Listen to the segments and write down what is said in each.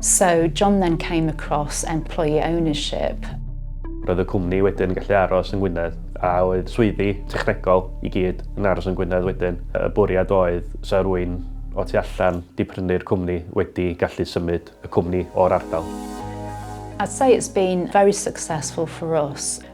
So John then came across employee ownership. Roedd y cwmni wedyn yn gallu aros yng Ngwynedd a oedd swyddi technegol i gyd yn aros yn Gwynedd wedyn. Y bwriad oedd 'sa rwy'n o tu allan 'di prynu'r cwmni wedi gallu symud y cwmni o'r ardal. I'd say it's been very successful for us.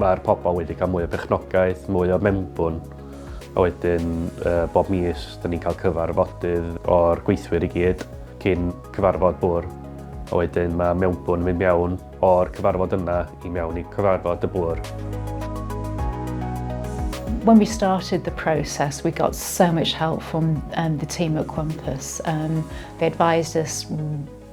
Mae'r pobl wedi cael mwy o bechnogaeth, mwy o membwn, a wedyn uh, bob mis, da ni'n cael cyfarfodydd o'r gweithwyr i gyd cyn cyfarfod bwr. A wedyn mae mewnbwn mynd mewn o'r cyfarfod yna i mewn i cyfarfod y bwr. when we started the process, we got so much help from um, the team at Quampus. Um, they advised us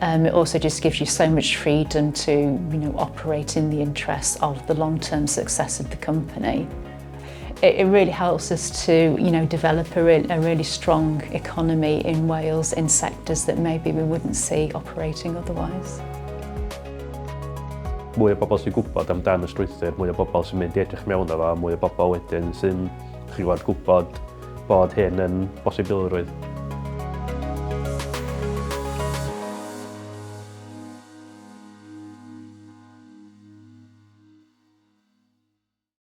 Um, it also just gives you so much freedom to you know, operate in the interests of the long-term success of the company. It, it really helps us to you know, develop a, re a really strong economy in Wales in sectors that maybe we wouldn't see operating otherwise. Mwy o bobl sy'n gwybod amdano strwythur, mwy o bobl sy'n mynd i edrych mewn efo, mwy o bobl wedyn sy'n chi'n gwybod bod hyn yn bosibilrwydd.